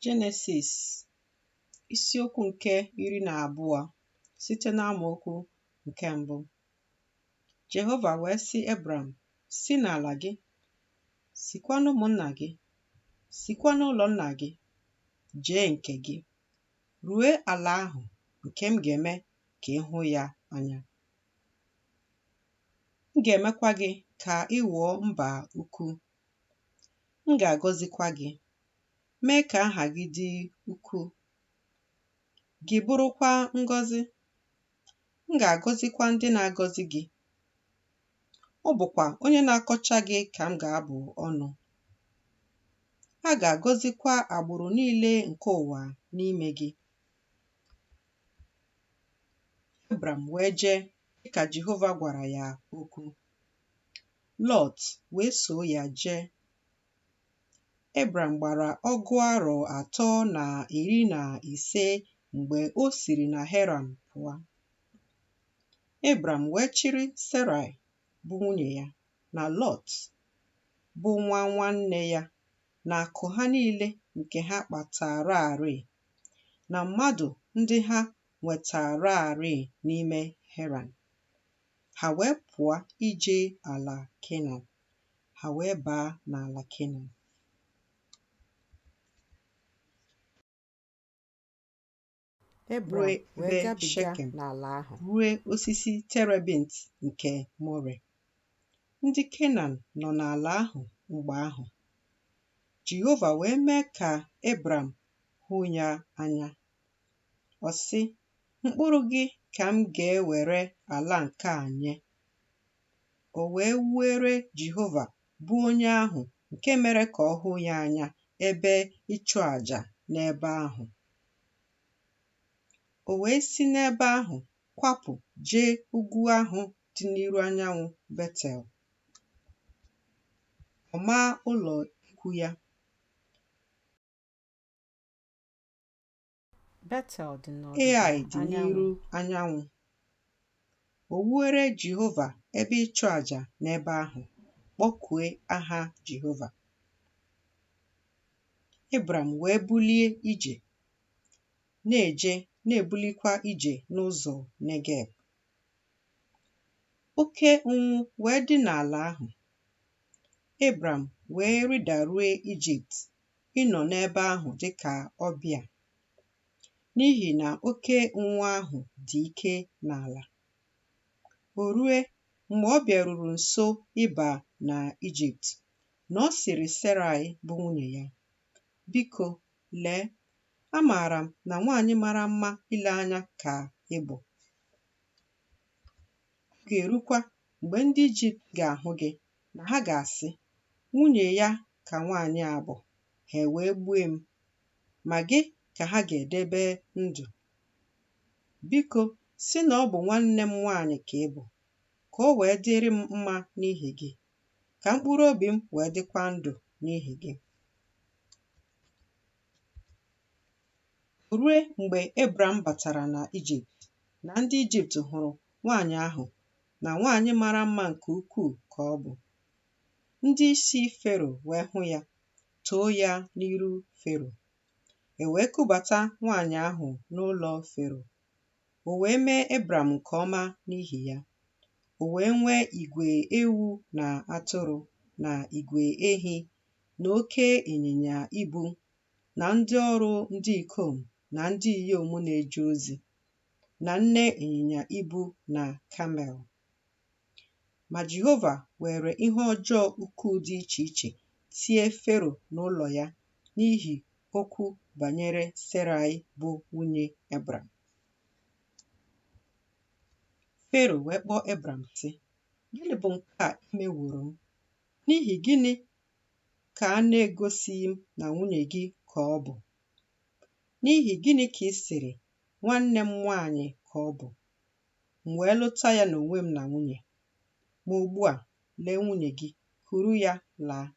Jenesis isiokwu nke iri na abụọ site n'amaokwu nke mbụ Jehova wee sị Ebram si n'ala gị sikwa n'ụmụnna gị sikwa n'ụlọ nna gị jee nke gị rue ala ahụ nke m ga-eme ka ị hụ ya anya m ga-emekwa gị ka ị ghọọ mba ukwu m ga-agọzikwa gị mee ka aha gị dị ukwuu, gị bụrụkwa ngọzi. M ga-agọzikwa ndị na-agọzi gị. Ọ bụkwa onye na-akọcha gị ka m ga-abụ ọnụ. A ga-agọzikwa agbụrụ niile nke ụwa n'ime gị. Ebram wee jee dịka Jehova gwara ya okwu. Lọt wee soo ya jee. Ebram gbara ọgụ arọ atọ na iri na ise mgbe o siri na Heran pụọ. Ebram wee chịrị Serai bụ nwunye ya na Lọt bụ nwa nwanne ya na akụ ha niile nke ha kpataararị na mmadụ ndị ha nwetaararị n'ime Heran. Ha wee pụọ ije ala Kenan, ha wee baa n'ala Kenan. Ebram wee gabiga n'ala ahụ ruo osisi terebint nke More. Ndị Kenan nọ n'ala ahụ mgbe ahụ. Jehova wee mee ka Ebram hụ ya anya. Ọ sị, Mkpụrụ gị ka m ga-ewere ala nke a nye. O wee wuere Jehova, bụ onye ahụ nke mere ka ọ hụ ya anya, ebe ịchụ aja n'ebe ahụ. O wee si n'ebe ahụ kwapụ jee ugwu ahụ dị n'iru anyanwụ Betel. Ọ maa ụlọ ikwu ya. Betel dị n'ọdịda anyanwụ, Ai dị n'iru anyanwụ. O wuere Jehova ebe ịchụ aja n'ebe ahụ, kpọkue aha Jehova. Ebram wee bulie ije, na-eje na-ebulikwa ije n'ụzọ Negeb. Oke ụnwụ wee dị n'ala ahụ. Ebram wee rịdarue Ijipt ịnọ n'ebe ahụ dị ka ọbịa, n'ihi na oke ụnwụ ahụ dị ike n'ala. O rue, mgbe ọ bịaruru nso ịba na Ijipt, na ọ sịrị Seraị bụ nwunye ya, Biko, lee, amaara m na nwaanyị mara mma ile anya ka ị bụ. Ọ ga-erukwa mgbe ndị Ijipt ga-ahụ gị, na ha ga-asị, Nwunye ya ka nwaanyị a bụ, ha ewee gbue m, ma gị ka ha ga-edebe ndụ? Biko, sị na ọ bụ nwanne m nwaanyị ka ị bụ, ka o wee dịrị m mma n'ihi gị, ka mkpụrụ obi m wee dịkwa ndụ n'ihi gị. O rue mgbe Ebram batara na Ijipt, na ndị Ijipt hụrụ nwaanyị ahụ na nwaanyị mara mma nke ukwuu ka ọ bụ. Ndị isi Fero wee hụ ya, too ya n'iru Fero. E wee kubata nwanyị ahụ n'ụlọ Fero. O wee mee Ebram nke ọma n'ihi ya. O wee nwee igwe ewu na atụrụ na igwe ehi na oke ịnyịnya ibu na ndị ọrụ ndị ikom na ndị inyom na-eje ozi na nne ịnyịnya ibu na kamel. Ma Jehova weere ihe ọjọọ ukwuu dị iche iche tie Fero na ụlọ ya n'ihi okwu banyere Seraị bụ nwunye Ebram. Fero wee kpọọ Ebram, sị, Gịnị bụ nke a i meworo m? N'ihi gịnị ka a na-egosighị m na nwunye gị ka ọ bụ? N'ihi gịnị ka ị sịrị, Nwanne m nwaanyị ka ọ bụ? m wee lụta ya n'onwe m na nwunye. Ma ugbu a, lee nwunye gị, kuru ya laa.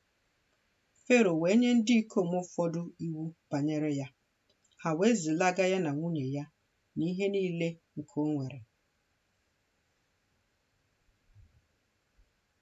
Fero wee nye ndị ikom ụfọdụ iwu banyere ya, ha wee zilaga ya na nwunye ya na ihe niile nke o nwere.